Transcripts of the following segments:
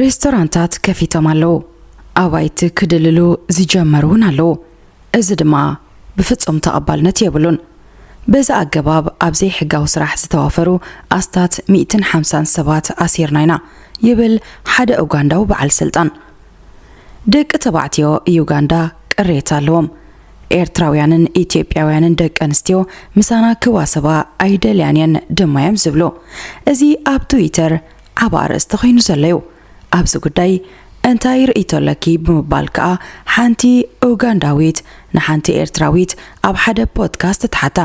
ሬስቶራንታት ከፊቶም ኣለዉ ኣባይቲ ክድልሉ ዝጀመሩ እውን ኣለዉ እዚ ድማ ብፍጹም ተቐባልነት የብሉን በዚ ኣገባብ ኣብ ዘይሕጋዊ ስራሕ ዝተዋፈሩ ኣስታት 150 ሰባት ኣሲርና ኢና ይብል ሓደ ኡጋንዳዊ በዓል ስልጣን ደቂ ተባዕትዮ ዩጋንዳ ቅሬታ ኣለዎም ኤርትራውያንን ኢትዮጵያውያንን ደቂ ኣንስትዮ ምሳና ክዋሰባ ኣይደልያን እየን ድማ እዮም ዝብሉ እዚ ኣብ ትዊተር ዓብ ኣርእስቲ ኮይኑ ዘሎ እዩ ኣብዚ ጉዳይ እንታይ ርእይቶ ኣለኪ ብምባል ከኣ ሓንቲ ኡጋንዳዊት ንሓንቲ ኤርትራዊት ኣብ ሓደ ፖድካስት ትሓታ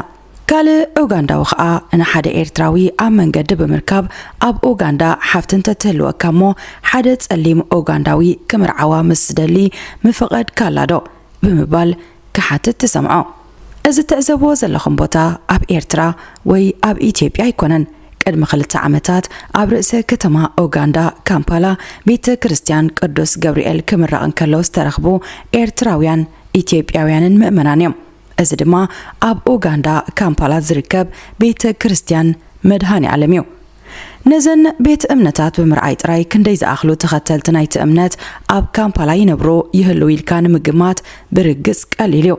ካልእ ኡጋንዳዊ ከኣ ንሓደ ኤርትራዊ ኣብ መንገዲ ብምርካብ ኣብ ኡጋንዳ ሓፍቲ እንተትህልወካ እሞ ሓደ ጸሊም ኡጋንዳዊ ክምርዓዋ ምስ ዝደሊ ምፈቐድካላ ዶ? ብምባል ክሓትት ትሰምዖ። እዚ እትዕዘብዎ ዘለኹም ቦታ ኣብ ኤርትራ ወይ ኣብ ኢትዮጵያ ኣይኮነን። ቅድሚ ክልተ ዓመታት ኣብ ርእሰ ከተማ ኡጋንዳ ካምፓላ ቤተ ክርስትያን ቅዱስ ገብርኤል ክምረቕ እንከሎ ዝተረኽቡ ኤርትራውያን ኢትዮጵያውያንን ምእመናን እዮም። እዚ ድማ ኣብ ኡጋንዳ ካምፓላ ዝርከብ ቤተ ክርስቲያን መድሃኔኣለም እዩ። ነዘን ቤት እምነታት ብምርኣይ ጥራይ ክንደይ ዝኣኽሉ ተኸተልቲ ናይቲ እምነት ኣብ ካምፓላ ይነብሩ ይህልዉ ኢልካ ንምግማት ብርግጽ ቀሊል እዩ።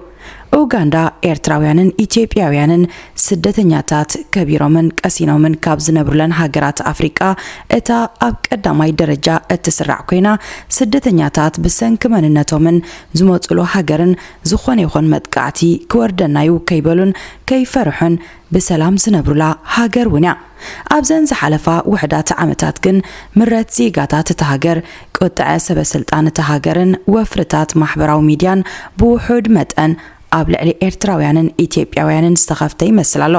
ኡጋንዳ ኤርትራውያንን ኢትዮጵያውያንን ስደተኛታት ከቢሮምን ቀሲኖምን ካብ ዝነብሩለን ሃገራት ኣፍሪቃ እታ ኣብ ቀዳማይ ደረጃ እትስራዕ ኮይና ስደተኛታት ብሰንኪ መንነቶምን ዝመጹሉ ሃገርን ዝኾነ ይኹን መጥቃዕቲ ክወርደና'ዩ ከይበሉን ከይፈርሑን ብሰላም ዝነብሩላ ሃገር ውን'ያ። ኣብዘን ዝሓለፋ ውሑዳት ዓመታት ግን ምረት ዜጋታት እታ ሃገር፣ ቁጥዐ ሰበስልጣን እታ ሃገርን ወፍርታት ማሕበራዊ ሚድያን ብውሑድ መጠን ኣብ ልዕሊ ኤርትራውያንን ኢትዮጵያውያንን ዝተኸፍተ ይመስል ኣሎ።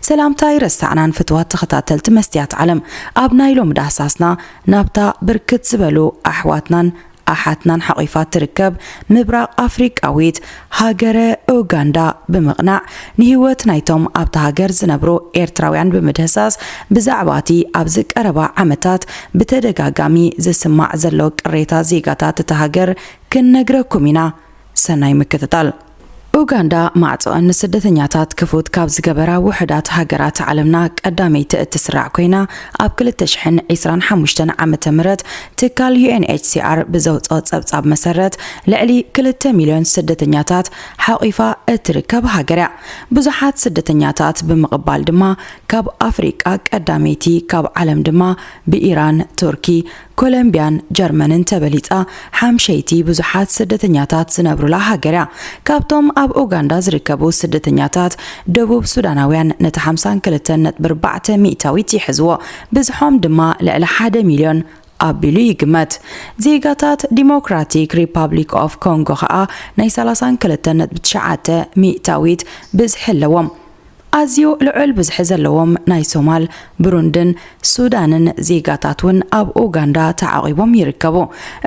ሰላምታ ኣይረሳዕናን ፍቱዋት ተኸታተልቲ መስትያት ዓለም፣ ኣብ ናይ ሎሚ ዳህሳስና ናብታ ብርክት ዝበሉ ኣሕዋትናን ኣሓትናን ሓቚፋ እትርከብ ምብራቕ ኣፍሪቃዊት ሃገረ ኡጋንዳ ብምቕናዕ ንህይወት ናይቶም ኣብታ ሃገር ዝነብሩ ኤርትራውያን ብምድህሳስ ብዛዕባ'ቲ ኣብዚ ቀረባ ዓመታት ብተደጋጋሚ ዝስማዕ ዘሎ ቅሬታ ዜጋታት እታ ሃገር ክንነግረኩም ኢና። ሰናይ ምክትታል። ኡጋንዳ ማዕጾኣን ንስደተኛታት ክፉት ካብ ዝገበራ ውሑዳት ሃገራት ዓለምና ቀዳመይቲ እትስራዕ ኮይና ኣብ ክልተ ሽሕን ዒስራን ሓሙሽተን ዓመተ ምህረት ትካል UNHCR ብዘውጽኦ ጸብጻብ መሰረት ልዕሊ ክልተ ሚልዮን ስደተኛታት ሓቒፋ እትርከብ ሃገር እያ። ብዙሓት ስደተኛታት ብምቕባል ድማ ካብ ኣፍሪቃ ቀዳመይቲ ካብ ዓለም ድማ ብኢራን፣ ቱርኪ፣ ኮሎምብያን ጀርመንን ተበሊጻ ሓምሸይቲ ብዙሓት ስደተኛታት ዝነብሩላ ሃገር እያ። ካብቶም ኣብ ኡጋንዳ ዝርከቡ ስደተኛታት፣ ደቡብ ሱዳናውያን ነቲ ሓምሳን ክልተን ነጥቢ ኣርባዕተ ሚእታዊት ይሕዝዎ፣ ብዝሖም ድማ ልዕሊ ሓደ ሚልዮን ኣቢሉ ይግመት። ዜጋታት ዲሞክራቲክ ሪፓብሊክ ኦፍ ኮንጎ ከኣ ናይ ሰላሳን ክልተን ነጥቢ ትሽዓተ ሚእታዊት ብዝሒ ኣለዎም። ኣዝዩ ልዑል ብዝሒ ዘለዎም ናይ ሶማል፣ ብሩንድን ሱዳንን ዜጋታት እውን ኣብ ኡጋንዳ ተዓቚቦም ይርከቡ።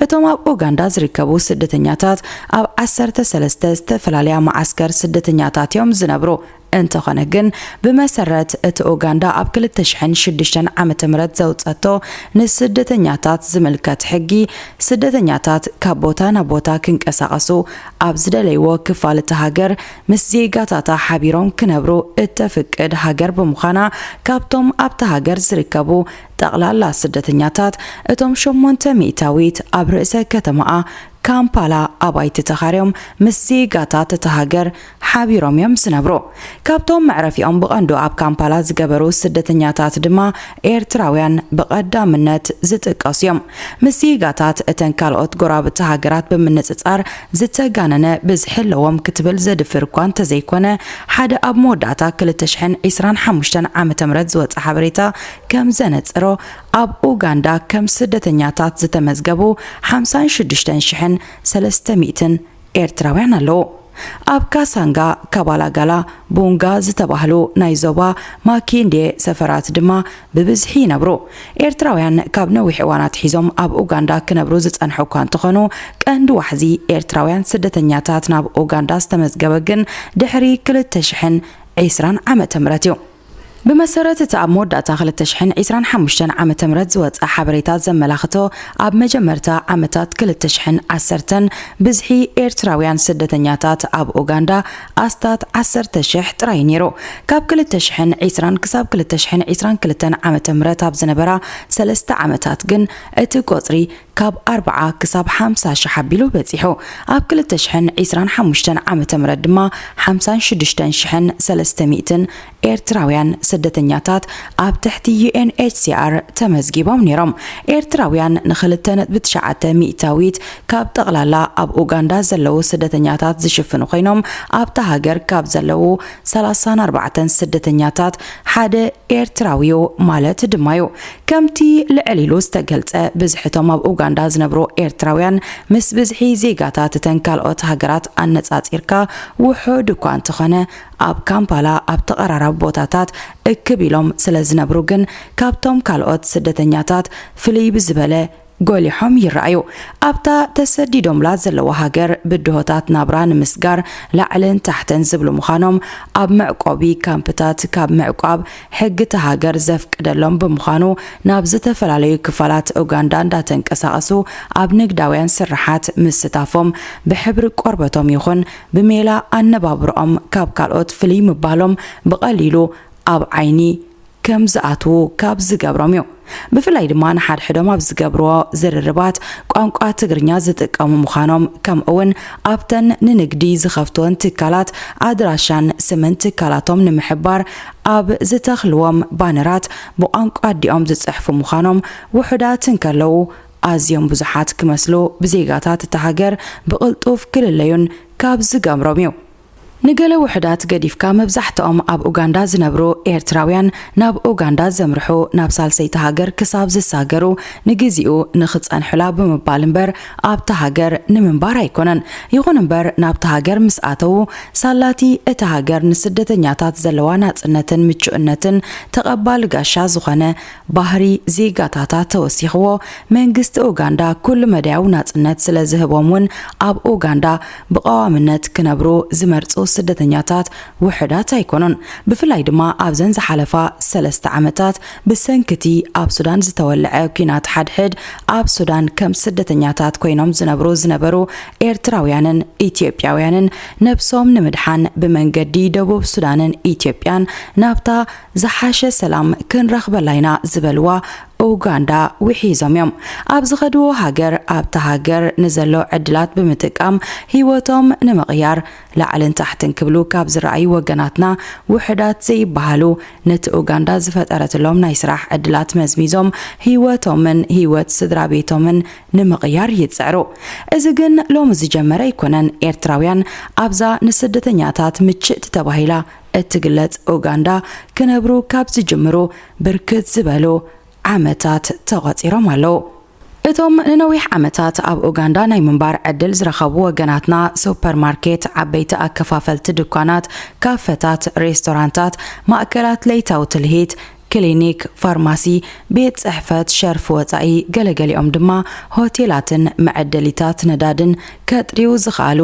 እቶም ኣብ ኡጋንዳ ዝርከቡ ስደተኛታት ኣብ ዓሰርተ ሰለስተ ዝተፈላለያ መዓስከር ስደተኛታት እዮም ዝነብሩ። እንተኾነ ግን ብመሰረት እቲ ኡጋንዳ ኣብ ክልተ ሽሕን ሽዱሽተን ዓመተ ምህረት ዘውጸቶ ንስደተኛታት ዝምልከት ሕጊ፣ ስደተኛታት ካብ ቦታ ናብ ቦታ ክንቀሳቐሱ ኣብ ዝደለይዎ ክፋል እታ ሃገር ምስ ዜጋታታ ሓቢሮም ክነብሩ እተፍቅድ ሃገር ብምዃና፣ ካብቶም ኣብታ ሃገር ዝርከቡ ጠቕላላ ስደተኛታት፣ እቶም ሸሞንተ ሚእታዊት ኣብ ርእሰ ከተማኣ ካምፓላ ኣባይቲ ተኻርዮም ምስ ዜጋታት እታ ሃገር ሓቢሮም እዮም ዝነብሩ። ካብቶም መዕረፊኦም ብቐንዱ ኣብ ካምፓላ ዝገበሩ ስደተኛታት ድማ ኤርትራውያን ብቐዳምነት ዝጥቀሱ እዮም። ምስ ዜጋታት እተን ካልኦት ጎረባብቲ ሃገራት ብምንጽጻር ዝተጋነነ ብዝሒ ኣለዎም ክትብል ዘድፍር እኳ እንተዘይኮነ፣ ሓደ ኣብ መወዳእታ ክልተ ሽሕን ዒስራን ሓሙሽተን ዓመተ ምህረት ዝወጸ ሓበሬታ ከም ዘነጸሮ፣ ኣብ ኡጋንዳ ከም ስደተኛታት ዝተመዝገቡ ሓምሳን ሽዱሽተን ሽሕን ሰለስተ ሚእትን ኤርትራውያን ኣለዉ። ኣብ ካሳንጋ፣ ካባላጋላ፣ ቡንጋ ዝተባህሉ ናይ ዞባ ማኪንዴ ሰፈራት ድማ ብብዝሒ ይነብሩ። ኤርትራውያን ካብ ነዊሕ እዋን ኣትሒዞም ኣብ ኡጋንዳ ክነብሩ ዝጸንሑ እኳ እንተኾኑ፣ ቀንዲ ዋሕዚ ኤርትራውያን ስደተኛታት ናብ ኡጋንዳ ዝተመዝገበ ግን ድሕሪ ክልተ ሽሕን ዕስራን ዓመተ ምህረት እዩ። ብመሰረት እቲ ኣብ መወዳእታ ክልተ ሽሕን ዒስራን ሓሙሽተን ዓመተ ምህረት ዝወጽኣ ሓበሬታ ዘመላኽቶ፣ ኣብ መጀመርታ ዓመታት ክልተ ሽሕን ዓሰርተን ብዝሒ ኤርትራውያን ስደተኛታት ኣብ ኡጋንዳ ኣስታት ዓሰርተ ሽሕ ጥራይ እዩ ነይሩ። ካብ ክልተ ሽሕን ዒስራን ክሳብ ክልተ ሽሕን ዒስራን ክልተን ዓመተ ምህረት ኣብ ዝነበራ ሰለስተ ዓመታት ግን እቲ ቈጽሪ ካብ ኣርብዓ ክሳብ ሓምሳ ሽሕ ኣቢሉ በጺሑ። ኣብ ክልተ ሽሕን ዒስራን ሓሙሽተን ዓመተ ምህረት ድማ ሓምሳን ሽዱሽተን ሽሕን ሰለስተ ሚእትን ኤርትራውያን ስደተኛታት ኣብ ትሕቲ UNHCR ተመዝጊቦም ነይሮም። ኤርትራውያን ንክልተ ነጥቢ ትሽዓተ ሚእታዊት ካብ ጠቕላላ ኣብ ኡጋንዳ ዘለዉ ስደተኛታት ዝሽፍኑ ኮይኖም ኣብታ ሃገር ካብ ዘለዉ ሰላሳን ኣርባዕተን ስደተኛታት ሓደ ኤርትራዊ'ዩ ማለት ድማ'ዩ። ከምቲ ልዕል ኢሉ ዝተገልጸ፣ ብዝሒ እቶም ኣብ ኡጋንዳ ዝነብሩ ኤርትራውያን ምስ ብዝሒ ዜጋታት እተን ካልኦት ሃገራት ኣነጻጺርካ ውሑድ እኳ እንተኾነ፣ ኣብ ካምፓላ ኣብ ተቐራራቢ ቦታታት እክብ ኢሎም ስለዝነብሩ ግን ካብቶም ካልኦት ስደተኛታት ፍልይ ብዝበለ ጎሊሖም ይረኣዩ። ኣብታ ተሰዲዶምላ ዘለዉ ሃገር ብድሆታት ናብራ ንምስጋር ላዕልን ታሕትን ዝብሉ ምዃኖም ኣብ መዕቆቢ ካምፕታት ካብ ምዕቋብ ሕጊ እታ ሃገር ዘፍቅደሎም ብምዃኑ ናብ ዝተፈላለዩ ክፋላት ኡጋንዳ እንዳተንቀሳቐሱ ኣብ ንግዳውያን ስርሓት ምስታፎም ብሕብሪ ቆርበቶም ይኹን ብሜላ ኣነባብርኦም ካብ ካልኦት ፍልይ ምባሎም ብቐሊሉ ኣብ ዓይኒ ከም ዝኣትዉ ካብ ዝገብሮም እዩ። ብፍላይ ድማ ንሓድሕዶም ኣብ ዝገብርዎ ዝርርባት ቋንቋ ትግርኛ ዝጥቀሙ ምዃኖም ከምኡ'ውን ኣብተን ንንግዲ ዝኸፍትወን ትካላት ኣድራሻን ስምን ትካላቶም ንምሕባር ኣብ ዝተኽልዎም ባነራት ብቋንቋ ኣዲኦም ዝጽሕፉ ምዃኖም ውሑዳት እንከለዉ ኣዝዮም ብዙሓት ክመስሉ ብዜጋታት እታ ሃገር ብቕልጡፍ ክልለዩን ካብ ዝገብሮም እዩ። ንገለ ውሑዳት ገዲፍካ መብዛሕትኦም ኣብ ኡጋንዳ ዝነብሩ ኤርትራውያን ናብ ኡጋንዳ ዘምርሑ ናብ ሳልሰይቲ ሃገር ክሳብ ዝሳገሩ ንግዚኡ ንኽጸንሑላ ብምባል እምበር ኣብታ ሃገር ንምንባር ኣይኮነን። ይኹን እምበር ናብታ ሃገር ምስ ኣተዉ ሳላቲ እታ ሃገር ንስደተኛታት ዘለዋ ናጽነትን ምቹእነትን ተቐባሊ ጋሻ ዝኾነ ባህሪ ዜጋታታ ተወሲኽዎ መንግስቲ ኡጋንዳ ኩሉ መዳያዊ ናጽነት ስለዝህቦም ውን ኣብ ኡጋንዳ ብቐዋምነት ክነብሩ ዝመርጹ ስደተኛታት ውሑዳት ኣይኮኑን። ብፍላይ ድማ ኣብዘን ዝሓለፋ ሰለስተ ዓመታት ብሰንኪ'ቲ ኣብ ሱዳን ዝተወልዐ ኲናት ሓድሕድ፣ ኣብ ሱዳን ከም ስደተኛታት ኮይኖም ዝነብሩ ዝነበሩ ኤርትራውያንን ኢትዮጵያውያንን ነብሶም ንምድሓን ብመንገዲ ደቡብ ሱዳንን ኢትዮጵያን ናብታ ዝሓሸ ሰላም ክንረኽበላ ኢና ዝበልዋ ኡጋንዳ ውሒዞም እዮም። ኣብ ዝኸድዎ ሃገር ኣብታ ሃገር ንዘሎ ዕድላት ብምጥቃም ህይወቶም ንምቕያር ላዕልን ታሕትን ክብሉ ካብ ዝረኣዩ ወገናትና ውሑዳት ዘይበሃሉ ነቲ ኡጋንዳ ዝፈጠረትሎም ናይ ስራሕ ዕድላት መዝሚዞም ህይወቶምን ህይወት ስድራቤቶምን ንምቕያር ይጽዕሩ። እዚ ግን ሎሚ ዝጀመረ ኣይኮነን። ኤርትራውያን ኣብዛ ንስደተኛታት ምችእቲ ተባሂላ እትግለጽ ኡጋንዳ ክነብሩ ካብ ዝጅምሩ ብርክት ዝበሉ ዓመታት ተቖጺሮም ኣለዉ። እቶም ንነዊሕ ዓመታት ኣብ ኡጋንዳ ናይ ምንባር ዕድል ዝረኸቡ ወገናትና፣ ሱፐር ማርኬት፣ ዓበይቲ ኣከፋፈልቲ ድኳናት፣ ካፈታት፣ ሬስቶራንታት፣ ማእከላት ለይታዊ ትልሂት፣ ክሊኒክ፣ ፋርማሲ፣ ቤት ጽሕፈት ሸርፊ ወጻኢ፣ ገለገሊኦም ድማ ሆቴላትን መዐደሊታት ነዳድን ከጥርዩ ዝኸኣሉ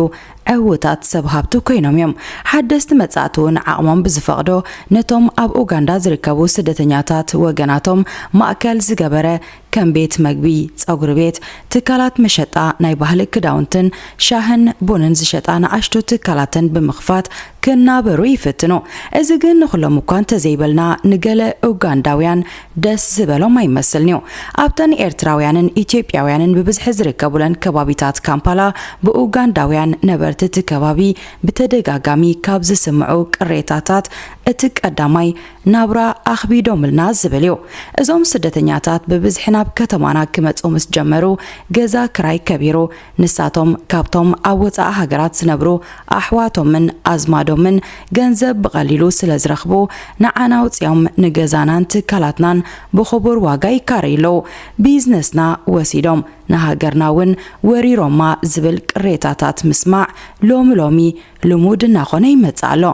ዕዉታት ሰብ ሃብቲ ኰይኖም እዮም። ሓደስቲ መጻእቲ'ውን ዓቕሞም ብዝፈቕዶ ነቶም ኣብ ኡጋንዳ ዝርከቡ ስደተኛታት ወገናቶም ማእከል ዝገበረ ከም ቤት መግቢ፣ ጸጉሪ ቤት፣ ትካላት መሸጣ ናይ ባህሊ ክዳውንትን ሻህን ቡንን ዝሸጣ ንኣሽቱ ትካላተን ብምኽፋት ክናበሩ ይፍትኑ። እዚ ግን ንኹሎም እኳ እንተዘይበልና ንገለ ኡጋንዳውያን ደስ ዝበሎም ኣይመስልን'ዩ። ኣብተን ኤርትራውያንን ኢትዮጵያውያንን ብብዝሒ ዝርከቡለን ከባቢታት ካምፓላ ብኡጋንዳውያን ነበርቲ እቲ ከባቢ ብተደጋጋሚ ካብ ዝስምዑ ቅሬታታት እቲ ቀዳማይ ናብራ ኣኽቢዶምልና ዝብል እዩ። እዞም ስደተኛታት ብብዝሒ ናብ ከተማና ክመጹ ምስ ጀመሩ ገዛ ክራይ ከቢሩ፣ ንሳቶም ካብቶም ኣብ ወጻኢ ሃገራት ዝነብሩ ኣሕዋቶምን ኣዝማዶምን ገንዘብ ብቐሊሉ ስለ ዝረኽቡ ንዓና ኣውጺኦም ንገዛናን ትካላትናን ብኽቡር ዋጋ ይካረዩ ኣለዉ። ቢዝነስና ወሲዶም ንሃገርና እውን ወሪሮማ ዝብል ቅሬታታት ምስማዕ ሎሚ ሎሚ ልሙድ እናኾነ ይመጽእ ኣሎ።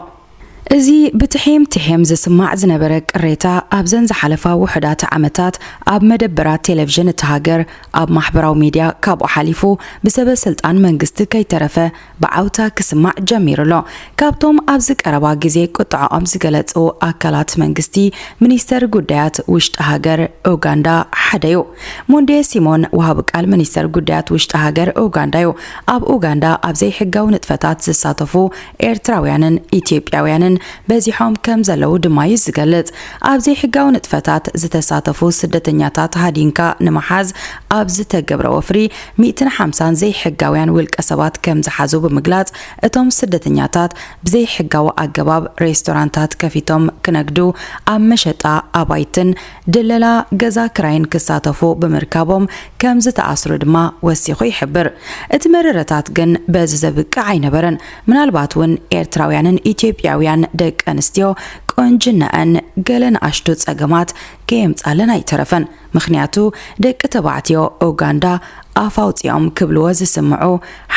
እዚ ብትሒም ትሒም ዝስማዕ ዝነበረ ቅሬታ ኣብዘን ዝሓለፋ ውሑዳት ዓመታት ኣብ መደበራት ቴለቭዥን እታ ሃገር፣ ኣብ ማሕበራዊ ሚድያ ካብኡ ሓሊፉ ብሰበ ስልጣን መንግስቲ ከይተረፈ ብዓውታ ክስማዕ ጀሚሩ ኣሎ። ካብቶም ኣብዚ ቀረባ ግዜ ቁጠዐኦም ዝገለጹ ኣካላት መንግስቲ ሚኒስተር ጉዳያት ውሽጢ ሃገር ኡጋንዳ ሓደ'ዩ። ሞንዴ ሲሞን ወሃቢ ቃል ሚኒስተር ጉዳያት ውሽጢ ሃገር ኡጋንዳ'ዩ። ኣብ ኡጋንዳ ኣብ ዘይሕጋዊ ንጥፈታት ዝሳተፉ ኤርትራውያንን ኢትዮጵያውያንን በዚሖም ከም ዘለዉ ድማ'ዩ ዝገልጽ። ኣብ ዘይሕጋዊ ንጥፈታት ዝተሳተፉ ስደተኛታት ሃዲንካ ንምሓዝ ኣብ ዝተገብረ ወፍሪ፣ ሚእትን ሓምሳን ዘይሕጋውያን ውልቀሰባት ከም ዝሓዙ ብምግላጽ፣ እቶም ስደተኛታት ብዘይሕጋዊ ኣገባብ ሬስቶራንታት ከፊቶም ክነግዱ፣ ኣብ መሸጣ ኣባይትን ድለላ ገዛ ክራይን ክሳተፉ ብምርካቦም ከም ዝተኣስሩ ድማ ወሲኹ ይሕብር። እቲ መረረታት ግን በዚ ዘብቅዕ ኣይነበረን፣ ምናልባት እውን ኤርትራውያንን ኢትዮጵያውያን ደቂ ኣንስትዮ ቁንጅናኣን ገለ ንኣሽቱ ጸገማት ከየምጻለን ኣይተረፈን፣ ምኽንያቱ ደቂ ተባዕትዮ ኡጋንዳ ኣፍ ኣውጺኦም ክብልዎ ዝስምዑ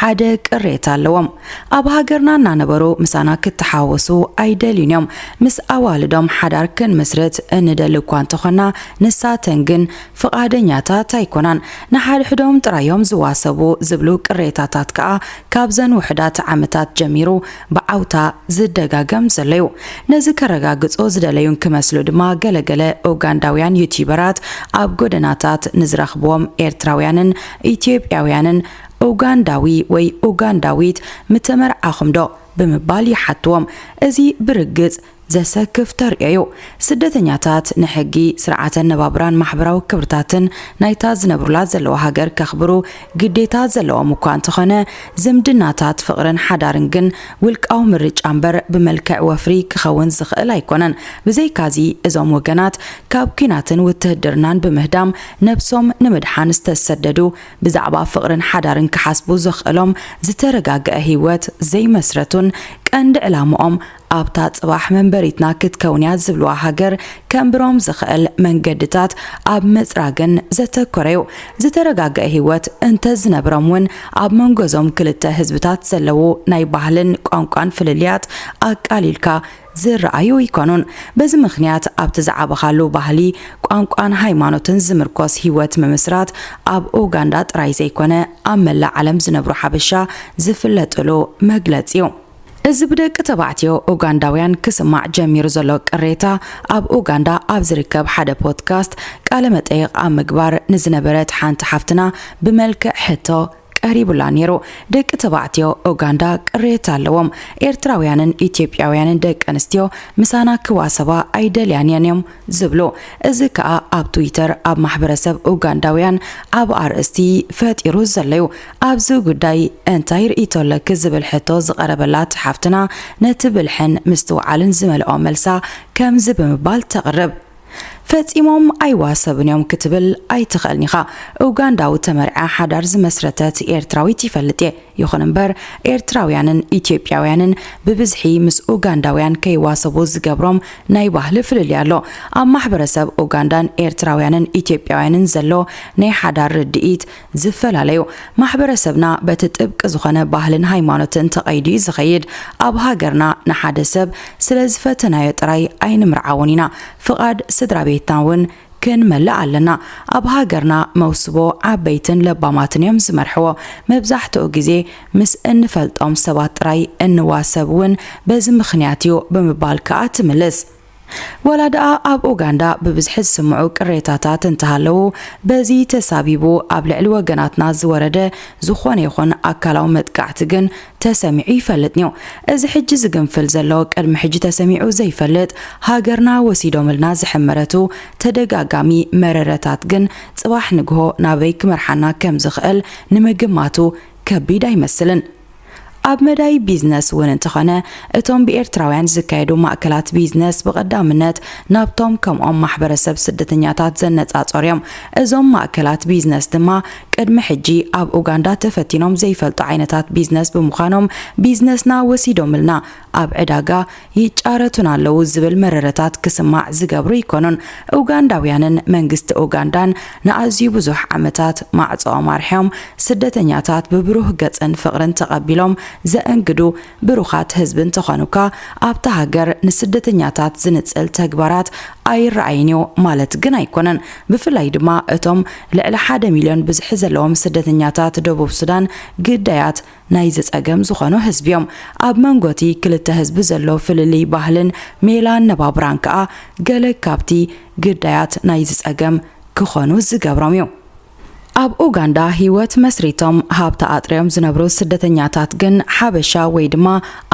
ሓደ ቅሬታ ኣለዎም። ኣብ ሃገርና እናነበሩ ምሳና ክተሓወሱ ኣይደልዩን እዮም። ምስ ኣዋልዶም ሓዳር ክንምስርት እንደሊ እኳ እንተኾንና ንሳተን ግን ፍቓደኛታት ኣይኮናን። ንሓድሕዶም ጥራይ እዮም ዝዋሰቡ ዝብሉ ቅሬታታት ከኣ ካብዘን ውሑዳት ዓመታት ጀሚሩ ብዓውታ ዝደጋገም ዘሎ እዩ። ነዚ ከረጋግጹ ዝደለዩ እንክመስሉ ድማ ገለገለ ኡጋንዳውያን ዩትዩበራት ኣብ ጎደናታት ንዝረኽብዎም ኤርትራውያንን ኢትዮጵያውያንን ኡጋንዳዊ ወይ ኡጋንዳዊት ምተመርዓኹምዶ? ብምባል ይሓትዎም። እዚ ብርግጽ ዘሰክፍ ተርእዮ'ዩ። ስደተኛታት ንሕጊ፣ ስርዓተ ኣነባብራን ማሕበራዊ ክብርታትን ናይታ ዝነብሩላ ዘለዉ ሃገር ከኽብሩ ግዴታ ዘለዎም እኳ እንተኾነ፣ ዝምድናታት ፍቕርን ሓዳርን ግን ውልቃዊ ምርጫ እምበር ብመልክዕ ወፍሪ ክኸውን ዝኽእል ኣይኮነን። ብዘይካ'ዚ እዞም ወገናት ካብ ኲናትን ውትህድርናን ብምህዳም ነብሶም ንምድሓን ዝተሰደዱ ብዛዕባ ፍቕርን ሓዳርን ክሓስቡ ዘኽእሎም ዝተረጋግዐ ህይወት ዘይመስረቱን ቀንዲ ዕላምኦም ኣብታ ጽባሕ መንበሪትና ክትከውን'ያ ዝብልዋ ሃገር ከንብሮም ዝኽእል መንገድታት ኣብ ምጽራግን ዘተኮረ'ዩ። ዝተረጋግዐ ህይወት እንተዝነብሮም'ውን ኣብ መንጎ'ዞም ክልተ ህዝብታት ዘለዉ ናይ ባህልን ቋንቋን ፍልልያት ኣቃሊልካ ዝረኣዩ ኣይኮኑን። በዚ ምኽንያት ኣብቲ ዝዓበኻሉ ባህሊ፣ ቋንቋን ሃይማኖትን ዝምርኮስ ህይወት ምምስራት ኣብ ኡጋንዳ ጥራይ ዘይኮነ ኣብ መላእ ዓለም ዝነብሩ ሓበሻ ዝፍለጥሉ መግለጺ እዩ። እዚ ብደቂ ተባዕትዮ ኡጋንዳውያን ክስማዕ ጀሚሩ ዘሎ ቅሬታ ኣብ ኡጋንዳ ኣብ ዝርከብ ሓደ ፖድካስት ቃለ መጠይቕ ኣብ ምግባር ንዝነበረት ሓንቲ ሓፍትና ብመልክዕ ሕቶ ቀሪቡላ ኔሩ ደቂ ተባዕትዮ ኡጋንዳ ቅሬታ ኣለዎም ኤርትራውያንን ኢትዮጵያውያንን ደቂ ኣንስትዮ ምሳና ክዋሰባ ኣይደልያን እየን እዮም ዝብሉ እዚ ከኣ ኣብ ትዊተር ኣብ ማሕበረሰብ ኡጋንዳውያን ዓቢ ኣርእስቲ ፈጢሩ ዘሎዩ ኣብዚ ጉዳይ እንታይ ርእይቶ ኣለኪ ዝብል ሕቶ ዝቐረበላት ሓፍትና ነቲ ብልሕን ምስትውዓልን ዝመልኦ መልሳ ከምዚ ብምባል ተቕርብ ፈጺሞም ኣይዋሰቡን እዮም ክትብል ኣይትኽእልን ኢኻ። ኡጋንዳዊ ተመርዕያ ሓዳር ዝመስረተት ኤርትራዊት ይፈልጥ እየ። ይኹን እምበር ኤርትራውያንን ኢትዮጵያውያንን ብብዝሒ ምስ ኡጋንዳውያን ከይዋሰቡ ዝገብሮም ናይ ባህሊ ፍልልይ ኣሎ። ኣብ ማሕበረሰብ ኡጋንዳን ኤርትራውያንን ኢትዮጵያውያንን ዘሎ ናይ ሓዳር ርድኢት ዝፈላለዩ ማሕበረሰብና በቲ ጥብቂ ዝኾነ ባህልን ሃይማኖትን ተቐይዱ እዩ ዝኸይድ። ኣብ ሃገርና ንሓደ ሰብ ስለ ዝፈተናዮ ጥራይ ኣይንምርዓዎን ኢና፣ ፍቓድ ስድራ ቤትና እውን ክንመልእ ኣለና። ኣብ ሃገርና መውስቦ ዓበይትን ለባማትን እዮም ዝመርሕዎ። መብዛሕትኡ ግዜ ምስ እንፈልጦም ሰባት ጥራይ እንዋሰብ እውን በዚ ምኽንያት እዩ ብምባል ከኣ ትምልስ። ዋላ ድኣ ኣብ ኡጋንዳ ብብዝሒ ዝስምዑ ቅሬታታት እንተሃለዉ፣ በዚ ተሳቢቡ ኣብ ልዕሊ ወገናትና ዝወረደ ዝኾነ ይኹን ኣካላዊ መጥቃዕቲ ግን ተሰሚዑ ይፈልጥንዮ። እዚ ሕጂ ዝግንፍል ዘሎ ቅድሚ ሕጂ ተሰሚዑ ዘይፈልጥ ሃገርና ወሲዶምልና ዝሕመረቱ ተደጋጋሚ መረረታት ግን ጽባሕ ንግሆ ናበይ ክመርሓና ከምዝኽእል ንምግማቱ ከቢድ ኣይመስልን። ኣብ መዳይ ቢዝነስ እውን እንተኾነ እቶም ብኤርትራውያን ዝካየዱ ማእከላት ቢዝነስ ብቐዳምነት ናብቶም ከምኦም ማሕበረሰብ ስደተኛታት ዘነጻጸሩ እዮም። እዞም ማእከላት ቢዝነስ ድማ ቅድሚ ሕጂ ኣብ ኡጋንዳ ተፈቲኖም ዘይፈልጡ ዓይነታት ቢዝነስ ብምዃኖም ቢዝነስና ወሲዶምልና፣ ኣብ ዕዳጋ ይጫረቱን ኣለዉ ዝብል መረረታት ክስማዕ ዝገብሩ ኣይኮኑን። ኡጋንዳውያንን መንግስቲ ኡጋንዳን ንኣዝዩ ብዙሕ ዓመታት ማዕጾኦም ኣርሕዮም ስደተኛታት ብብሩህ ገጽን ፍቕርን ተቐቢሎም ዘእንግዱ ብሩኻት ህዝቢ እንተኾኑ'ኳ ኣብታ ሃገር ንስደተኛታት ዝንጽል ተግባራት ኣይረኣይን'ዩ ማለት ግን ኣይኮነን። ብፍላይ ድማ እቶም ልዕሊ ሓደ ሚልዮን ብዝሒ ዘለዎም ስደተኛታት ደቡብ ሱዳን ግዳያት ናይዚ ጸገም ዝኾኑ ህዝቢ'ዮም። ኣብ መንጎ'ቲ ክልተ ህዝቢ ዘሎ ፍልልይ ባህልን ሜላ ኣነባብራን ከኣ ገለ ካብቲ ግዳያት ናይዚ ጸገም ክኾኑ ዝገብሮም'ዩ። ኣብ ኡጋንዳ ህይወት መስሪቶም ሃብቲ ኣጥርዮም ዝነብሩ ስደተኛታት ግን ሓበሻ ወይ ድማ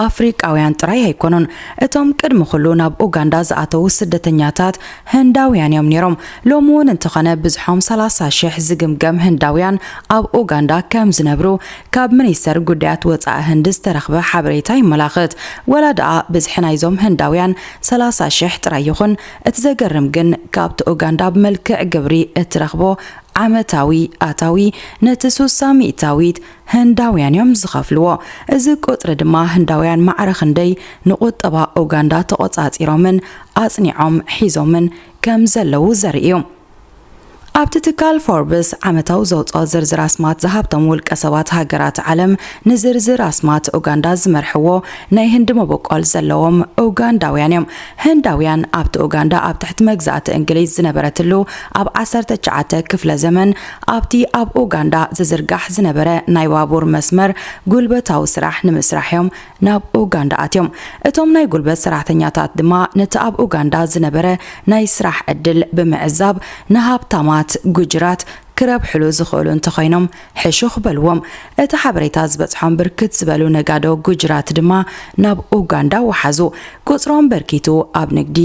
ኣፍሪቃውያን ጥራይ ኣይኮኑን። እቶም ቅድሚ ኩሉ ናብ ኡጋንዳ ዝኣተዉ ስደተኛታት ህንዳውያን'ዮም ነይሮም። ሎሚ'ውን እንተኾነ ብዝሖም ሰላሳ ሽሕ ዝግምገም ህንዳውያን ኣብ ኡጋንዳ ከም ዝነብሩ ካብ ሚኒስተር ጉዳያት ወጻኢ ህንዲ ዝተረኽበ ሓበሬታ የመላኽት። ዋላ ድኣ ብዝሒ ናይዞም ህንዳውያን ሰላሳ ሽሕ ጥራይ ይኹን፣ እቲ ዘገርም ግን ካብቲ ኡጋንዳ ብመልክዕ ግብሪ እትረኽቦ ዓመታዊ ኣታዊ ነቲ ሱሳ ሚእታዊት ህንዳውያን'ዮም ዝኸፍልዎ። እዚ ቁጽሪ ድማ ህንዳውያን ማዕረ ክንደይ ንቁጠባ ኡጋንዳ ተቖጻጺሮምን ኣጽኒዖም ሒዞምን ከም ዘለዉ ዘርኢ'ዩ። ኣብቲ ትካል ፎርብስ ዓመታዊ ዘውጽኦ ዝርዝር ኣስማት ዝሃብቶም ውልቀ ሰባት ሃገራት ዓለም ንዝርዝር ኣስማት ኡጋንዳ ዝመርሕዎ ናይ ህንዲ መበቆል ዘለዎም ኡጋንዳውያን እዮም። ህንዳውያን ኣብቲ ኡጋንዳ ኣብ ትሕቲ መግዛእቲ እንግሊዝ ዝነበረትሉ ኣብ ዓሰርተ ትሽዓተ ክፍለ ዘመን ኣብቲ ኣብ ኡጋንዳ ዝዝርጋሕ ዝነበረ ናይ ባቡር መስመር ጉልበታዊ ስራሕ ንምስራሕ እዮም ናብ ኡጋንዳ ኣትዮም። እቶም ናይ ጉልበት ሰራሕተኛታት ድማ ነቲ ኣብ ኡጋንዳ ዝነበረ ናይ ስራሕ ዕድል ብምዕዛብ ንሃብታማት ጉጅራት ክረብሕሉ ዝኽእሉ እንተኾይኖም ሕሹኽ በልዎም። እቲ ሓበሬታ ዝበጽሖም ብርክት ዝበሉ ነጋዶ ጉጅራት ድማ ናብ ኡጋንዳ ወሓዙ። ቁጽሮም በርኪቱ ኣብ ንግዲ፣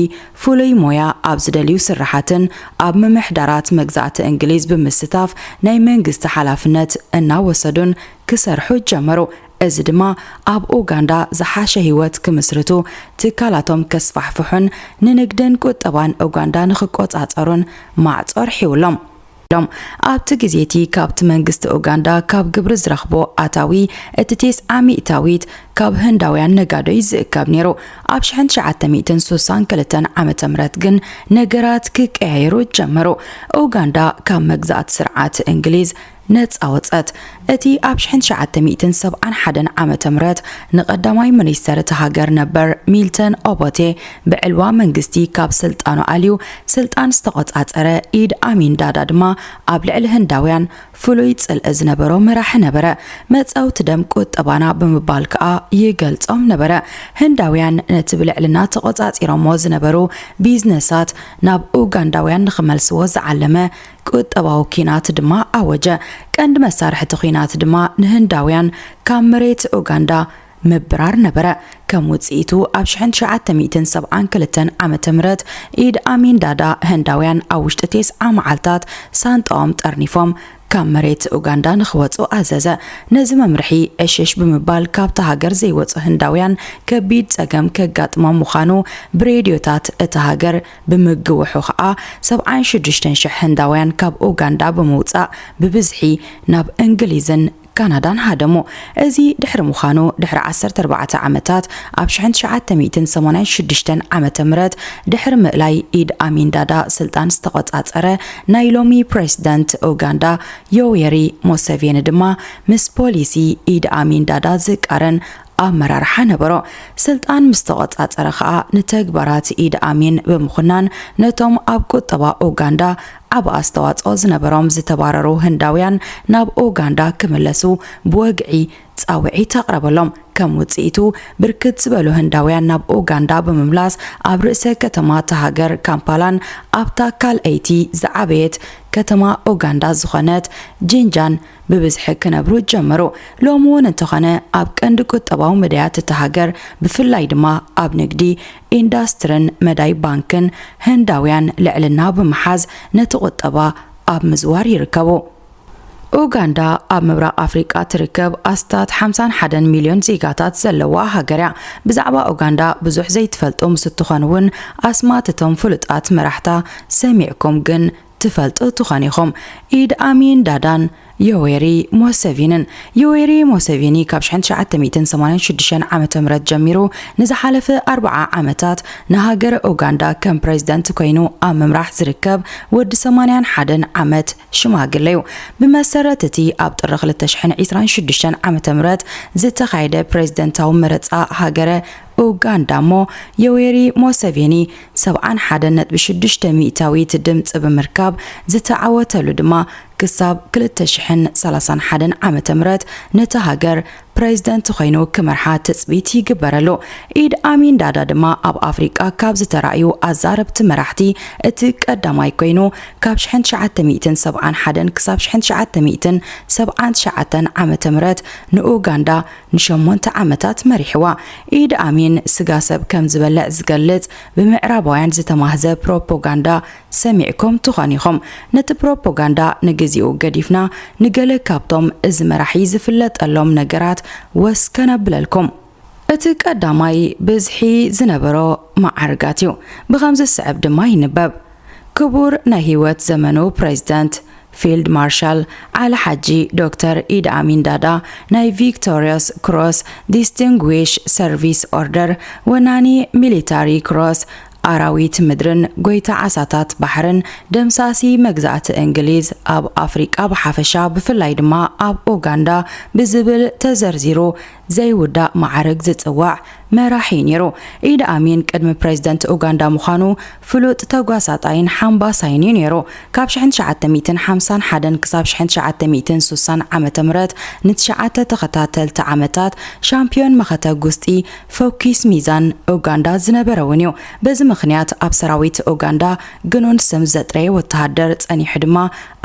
ፍሉይ ሞያ ኣብ ዝደልዩ ስርሓትን ኣብ ምምሕዳራት መግዛእቲ እንግሊዝ ብምስታፍ ናይ መንግስቲ ሓላፍነት እናወሰዱን ክሰርሑ ጀመሩ። እዚ ድማ ኣብ ኡጋንዳ ዝሓሸ ህይወት ክምስርቱ፣ ትካላቶም ከስፋሕፍሑን ንንግድን ቁጠባን ኡጋንዳ ንክቆጻጸሩን ማዕጾ ኣርሒውሎም። ኣብቲ ግዜ'ቲ ካብቲ መንግስቲ ኡጋንዳ ካብ ግብሪ ዝረኽቦ ኣታዊ እቲ ቴስዓ ሚእታዊት ካብ ህንዳውያን ነጋዶ ይዝእከብ ነይሩ። ኣብ ሽሕን ትሽዓተ ሚእትን ሱሳን ክልተን ዓመተ ምህረት ግን ነገራት ክቀያየሩ ጀመሩ። ኡጋንዳ ካብ መግዛእቲ ስርዓት እንግሊዝ ነጻ ወጸት። እቲ ኣብ ሽሕን ትሽዓተ ሚእትን ሰብዓን ሓደን ዓመተ ምህረት ንቀዳማይ ምኒስተር እታ ሃገር ነበር ሚልተን ኦቦቴ ብዕልዋ መንግስቲ ካብ ስልጣኑ ኣልዩ ስልጣን ዝተቖጻጸረ ኢድ ኣሚን ዳዳ ድማ ኣብ ልዕሊ ህንዳውያን ፍሉይ ጽልኢ ዝነበሮ መራሒ ነበረ። መጻውቲ ደም ቁጠባና ብምባል ከኣ ይገልጾም ነበረ። ህንዳውያን ነቲ ብልዕልና ተቖጻጺሮሞ ዝነበሩ ቢዝነሳት ናብ ኡጋንዳውያን ንኽመልስዎ ዝዓለመ ቁጠባዊ ኲናት ድማ ኣወጀ። ቀንዲ መሳርሕ'ቲ ኲናት ድማ ንህንዳውያን ካብ መሬት ኡጋንዳ ምብራር ነበረ። ከም ውጽኢቱ ኣብ ሽሕን ትሽዓተ ሚእትን ሰብዓን ክልተን ዓመተ ምህረት ኢድ ኣሚን ዳዳ ህንዳውያን ኣብ ውሽጢ ቴስዓ መዓልታት ሳንጣኦም ጠርኒፎም ካብ መሬት ኡጋንዳ ንኽወጹ ኣዘዘ። ነዚ መምርሒ ዕሽሽ ብምባል ካብታ ሃገር ዘይወጹ ህንዳውያን ከቢድ ጸገም ከጋጥሞም ምዃኑ ብሬድዮታት እታ ሃገር ብምግውሑ ከኣ ሰብዓን ሽዱሽተን ሽሕ ህንዳውያን ካብ ኡጋንዳ ብምውጻእ ብብዝሒ ናብ እንግሊዝን ካናዳን ሃደሙ። እዚ ድሕሪ ምዃኑ ድሕሪ ዓሰርተ ኣርባዕተ ዓመታት ኣብ ሽሕን ትሽዓተ ሚእትን ሰማንያን ሽዱሽተን ዓመተ ምህረት ድሕሪ ምእላይ ኢድ ኣሚን ዳዳ ስልጣን ዝተቖጻጸረ ናይ ሎሚ ፕረሲደንት ኡጋንዳ ዮዌሪ ሞሰቬኒ ድማ ምስ ፖሊሲ ኢድ ኣሚን ዳዳ ዝቃረን ኣመራርሓ ነበሮ። ስልጣን ምስ ተቖጻጸረ ከኣ ንተግባራት ኢድ ኣሚን ብምኹናን ነቶም ኣብ ቁጠባ ኡጋንዳ ዓቢ ኣስተዋጽኦ ዝነበሮም ዝተባረሩ ህንዳውያን ናብ ኡጋንዳ ክምለሱ ብወግዒ ጻውዒት ኣቕረበሎም። ከም ውጽኢቱ ብርክት ዝበሉ ህንዳውያን ናብ ኡጋንዳ ብምምላስ ኣብ ርእሰ ከተማ እታ ሃገር ካምፓላን ኣብታ ካልኣይቲ ዝዓበየት ከተማ ኡጋንዳ ዝኾነት ጂንጃን ብብዝሒ ክነብሩ ጀመሩ። ሎሚ እውን እንተኾነ ኣብ ቀንዲ ቁጠባዊ መዳያት እታ ሃገር ብፍላይ ድማ ኣብ ንግዲ፣ ኢንዳስትርን መዳይ ባንክን ህንዳውያን ልዕልና ብምሓዝ ነቲ ቁጠባ ኣብ ምዝዋር ይርከቡ። ኡጋንዳ ኣብ ምብራቕ ኣፍሪቃ ትርከብ ኣስታት ሓምሳን ሓደን ሚልዮን ዜጋታት ዘለዋ ሃገር እያ። ብዛዕባ ኡጋንዳ ብዙሕ ዘይትፈልጡ ምስ እትኾኑ እውን ኣስማት እቶም ፍሉጣት መራሕታ ሰሚዕኩም ግን ትፈልጡ ትኾኑ ኢኹም ኢድ ኣሚን ዳዳን ዮዌሪ ሞሰቪንን። ዮዌሪ ሞሰቪኒ ካብ ሽሕን ትሽዓተ ሚእትን ሰማንያን ሽዱሽተን ዓመተ ምህረት ጀሚሩ ንዝሓለፈ ኣርብዓ ዓመታት ንሃገረ ኡጋንዳ ከም ፕረዚደንት ኮይኑ ኣብ ምምራሕ ዝርከብ ወዲ ሰማንያን ሓደን ዓመት ሽማግለ'ዩ። ብመሰረት እቲ ኣብ ጥሪ ክልተ ሽሕን ዒስራን ሽዱሽተን ዓመተ ምህረት ዝተኻየደ ፕረዚደንታዊ መረጻ ሃገረ ኡጋንዳ'ሞ ዮዌሪ ሞሰቬኒ ሰብዓን ሓደን ነጥቢ ሽዱሽተ ሚእታዊት ድምጺ ብምርካብ ዝተዓወተሉ ድማ ክሳብ ክልተ ሽሕን ሰላሳን ሓደን ዓመተ ምህረት ነታ ሃገር ፕረዚደንት ኾይኑ ክመርሓ ትጽቢት ይግበረሉ። ኢድ ኣሚን ዳዳ ድማ ኣብ ኣፍሪቃ ካብ ዝተራእዩ ኣዛረብቲ መራሕቲ እቲ ቀዳማይ ኮይኑ ካብ ሽሕን ትሽዓተ ሚእትን ሰብዓን ሓደን ክሳብ ሽሕን ትሽዓተ ሚእትን ሰብዓን ትሽዓተን ዓመተ ምህረት ንኡጋንዳ ንሸሞንተ ዓመታት መሪሕዋ። ኢድ ኣሚን ስጋ ሰብ ከም ዝበልዕ ዝገልጽ ብምዕራባውያን ዝተማህዘ ፕሮፖጋንዳ ሰሚዕኩም ትኾን ኢኹም። ነቲ ፕሮፖጋንዳ ንግዚኡ ገዲፍና ንገለ ካብቶም እዚ መራሒ ዝፍለጠሎም ነገራት ወስ ከነብለልኩም። እቲ ቀዳማይ ብዝሒ ዝነበሮ መዓርጋት እዩ። ብኸምዚ ዝስዕብ ድማ ይንበብ። ክቡር ናይ ህይወት ዘመኑ ፕረዚደንት ፊልድ ማርሻል ዓሊ ሓጂ ዶክተር ኢድ ኣሚን ዳዳ ናይ ቪክቶርዮስ ክሮስ ዲስቲንጉዊሽ ሰርቪስ ኦርደር ወናኒ ሚሊታሪ ክሮስ ኣራዊት ምድርን ጎይታ ዓሳታት ባሕርን ደምሳሲ መግዛእቲ እንግሊዝ ኣብ ኣፍሪቃ ብሓፈሻ ብፍላይ ድማ ኣብ ኡጋንዳ ብዝብል ተዘርዚሩ ዘይውዳእ መዓርግ ዝጽዋዕ መራሒ'ዩ ነይሩ። ኢድ ኣሚን ቅድሚ ፕረዚደንት ኡጋንዳ ምዃኑ ፍሉጥ ተጓሳጣይን ሓምባሳይን'ዩ ነይሩ። ካብ ሽሕን ትሽዓተ ሚእትን ሓምሳን ሓደን ክሳብ ሽሕን ትሽዓተ ሚእትን ሱሳን ዓመተ ምህረት ንትሽዓተ ተኸታተልቲ ዓመታት ሻምፕዮን መኸተ ጉስጢ ፎኪስ ሚዛን ኡጋንዳ ዝነበረ'ውን'ዩ። በዚ ምኽንያት ኣብ ሰራዊት ኡጋንዳ ግኑን ስም ዘጥረየ ወተሃደር ጸኒሑ ድማ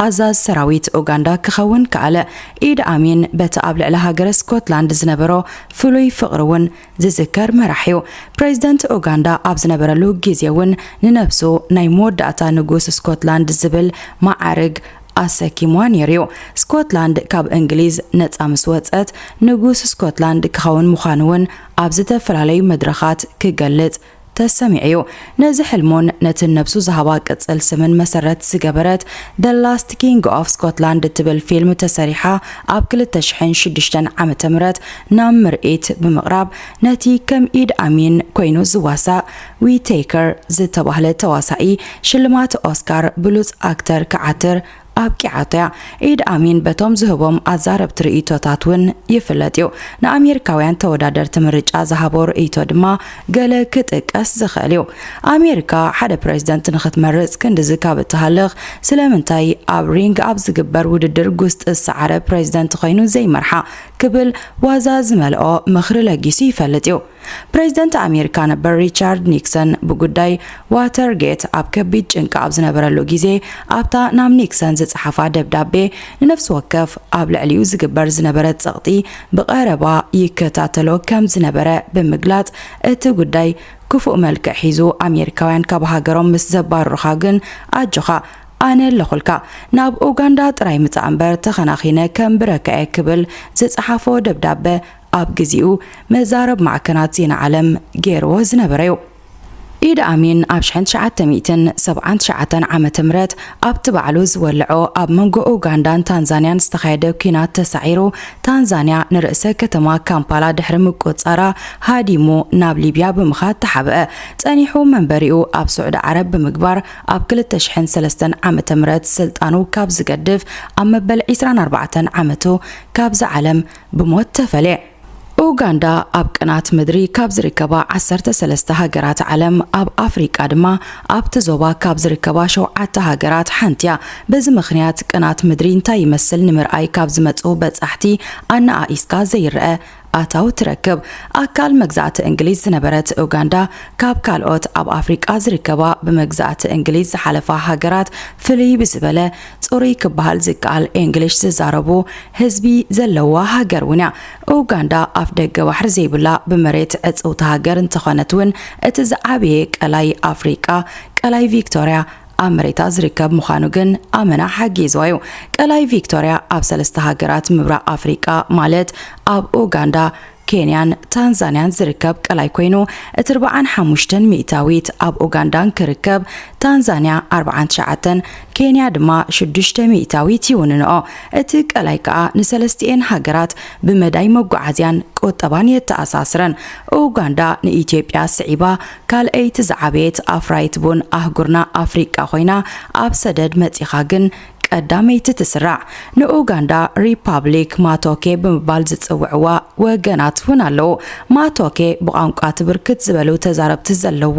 ኣዛዝ ሰራዊት ኡጋንዳ ክኸውን ከኣለ። ኢድ ኣሚን በቲ ኣብ ልዕሊ ሃገረ ስኮትላንድ ዝነበሮ ፍሉይ ፍቕሪ እውን ዝዝከር መራሒ'ዩ። ፕረዚደንት ኡጋንዳ ኣብ ዝነበረሉ ግዜ እውን ንነብሱ ናይ መወዳእታ ንጉስ ስኮትላንድ ዝብል መዓርግ ኣሰኪምዋ ነይሩ'ዩ። ስኮትላንድ ካብ እንግሊዝ ነጻ ምስ ወጸት፣ ንጉስ ስኮትላንድ ክኸውን ምዃኑ እውን ኣብ ዝተፈላለዩ መድረኻት ክገልጽ ተሰሚዑ'ዩ። ነዚ ሕልሙን ነቲ ነብሱ ዝሃባ ቅጽል ስምን መሰረት ዝገበረት The Last King of Scotland እትብል ፊልም ተሰሪሓ ኣብ ክልተ ሽሕን ሽዱሽተን ዓመተ ምህረት ናብ ምርኢት ብምቕራብ ነቲ ከም ኢድ ኣሚን ኮይኑ ዝዋሳእ Whittaker ዝተባህለ ተዋሳኢ ሽልማት ኦስካር ብሉጽ ኣክተር ክዓትር ኣብቂዓቶ'ያ። ኢድ ኣሚን በቶም ዝህቦም ኣዛረብቲ ርእይቶታት ውን ይፍለጥ'ዩ። ንኣሜሪካውያን ተወዳደርቲ ምርጫ ዝሃቦ ርእይቶ ድማ ገለ ክጥቀስ ዝኽእል'ዩ። ኣሜሪካ ሓደ ፕረዚደንት ንኽትመርጽ ክንድዚ ካብ እትሃልኽ ስለምንታይ ኣብ ሪንግ ኣብ ዝግበር ውድድር ጉስጢ ዝሰዓረ ፕረዚደንት ኾይኑ ዘይመርሓ ክብል ዋዛ ዝመልኦ ምኽሪ ለጊሱ ይፈልጥ'ዩ። ፕሬዚደንት ኣሜሪካ ነበር ሪቻርድ ኒክሰን ብጉዳይ ዋተር ጌት ኣብ ከቢድ ጭንቂ ኣብ ዝነበረሉ ግዜ ኣብታ ናብ ኒክሰን ዝጸሓፋ ደብዳቤ ንነፍሲ ወከፍ ኣብ ልዕሊኡ ዝግበር ዝነበረ ጸቕጢ ብቐረባ ይከታተሎ ከም ዝነበረ ብምግላጽ እቲ ጉዳይ ክፉእ መልክዕ ሒዙ ኣሜሪካውያን ካብ ሃገሮም ምስ ዘባርሩኻ ግን ኣጆኻ ኣነ ኣለኹልካ ናብ ኡጋንዳ ጥራይ ምጻእ እምበር ተኸናኺነ ከም ብረካየ ክብል ዝጸሓፎ ደብዳበ ኣብ ግዚኡ መዛረብ ማዕከናት ዜና ዓለም ገይርዎ ዝነበረ'ዩ። ኢድ ኣሚን ኣብ ሽሕን ትሽዓተ ሚእትን ሰብዓን ትሽዓተን ዓመተ ምህረት ኣብቲ ባዕሉ ዝወለዖ ኣብ መንጎ ኡጋንዳን ታንዛንያን ዝተኻየደ ኲናት ተሳዒሩ ታንዛንያ ንርእሰ ከተማ ካምፓላ ድሕሪ ምቁጽጻራ ሃዲሙ ናብ ሊብያ ብምኻድ ተሓብአ። ጸኒሑ መንበሪኡ ኣብ ሱዕዲ ዓረብ ብምግባር ኣብ ክልተ ሽሕን ሰለስተን ዓመተ ምህረት ስልጣኑ ካብ ዝገድፍ ኣብ መበል ዒስራን ኣርባዕተን ዓመቱ ካብዛ ዓለም ብሞት ተፈልየ። ኡጋንዳ ኣብ ቅናት ምድሪ ካብ ዝርከባ ዓሰርተ ሰለስተ ሃገራት ዓለም ኣብ ኣፍሪቃ ድማ ኣብቲ ዞባ ካብ ዝርከባ ሸውዓተ ሃገራት ሓንቲ'ያ። በዚ ምኽንያት ቅናት ምድሪ እንታይ ይመስል ንምርኣይ ካብ ዝመጹ በጻሕቲ ኣነኣኢስካ ዘይረኣ ኣታዊ ትረክብ። ኣካል መግዛእቲ እንግሊዝ ዝነበረት ኡጋንዳ ካብ ካልኦት ኣብ ኣፍሪቃ ዝርከባ ብመግዛእቲ እንግሊዝ ዝሓለፋ ሃገራት ፍልይ ብዝበለ ጽሩይ ክበሃል ዝከኣል ኤንግሊሽ ዝዛረቡ ህዝቢ ዘለዋ ሃገር እውን እያ። ኡጋንዳ ኣፍደገ ባሕሪ ዘይብላ ብመሬት ዕጽውቲ ሃገር እንተኾነት እውን እቲ ዝዓበየ ቀላይ ኣፍሪቃ ቀላይ ቪክቶርያ ኣብ መሬታ ዝርከብ ምዃኑ ግን ኣመና ሓጊዝዋ እዩ። ቀላይ ቪክቶርያ ኣብ ሰለስተ ሃገራት ምብራቕ ኣፍሪቃ ማለት ኣብ ኡጋንዳ፣ ኬንያን ታንዛንያን ዝርከብ ቀላይ ኮይኑ እቲ ርብዓን ሓሙሽተን ሚእታዊት ኣብ ኡጋንዳን ክርከብ ታንዛንያ ኣርብዓን ትሽዓተን ኬንያ ድማ ሽዱሽተ ሚእታዊት ይውንንኦ። እቲ ቀላይ ከኣ ንሰለስቲኤን ሃገራት ብመዳይ መጓዓዝያን ቁጠባን የተኣሳስረን። ኡጋንዳ ንኢትዮጵያ ስዒባ ካልኣይቲ ዝዓበየት ኣፍራይት ቡን ኣህጉርና ኣፍሪቃ ኮይና ኣብ ሰደድ መጺኻ ግን ቀዳመይቲ ትስራዕ ንኡጋንዳ ሪፓብሊክ ማቶኬ ብምባል ዝጽውዕዋ ወገናት እውን ኣለዉ። ማቶኬ ብቋንቋ እቲ ብርክት ዝበሉ ተዛረብቲ ዘለዎ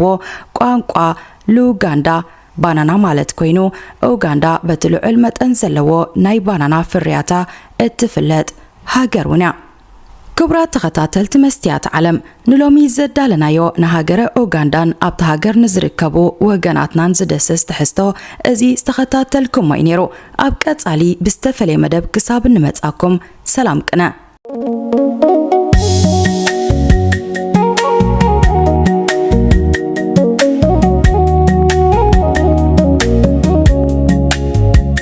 ቋንቋ ሉጋንዳ ባናና ማለት ኮይኑ፣ ኡጋንዳ በቲ ልዑል መጠን ዘለዎ ናይ ባናና ፍርያታ እትፍለጥ ሃገር እውን እያ። ክቡራት ተኸታተልቲ መስትያት ዓለም ንሎሚ ዘዳለናዮ ንሃገረ ኡጋንዳን ኣብታ ሃገር ንዝርከቡ ወገናትናን ዝደስስ ትሕዝቶ እዚ ዝተኸታተልኩሞ እዩ ነይሩ። ኣብ ቀጻሊ ብዝተፈለየ መደብ ክሳብ እንመጻኩም ሰላም ቅነ።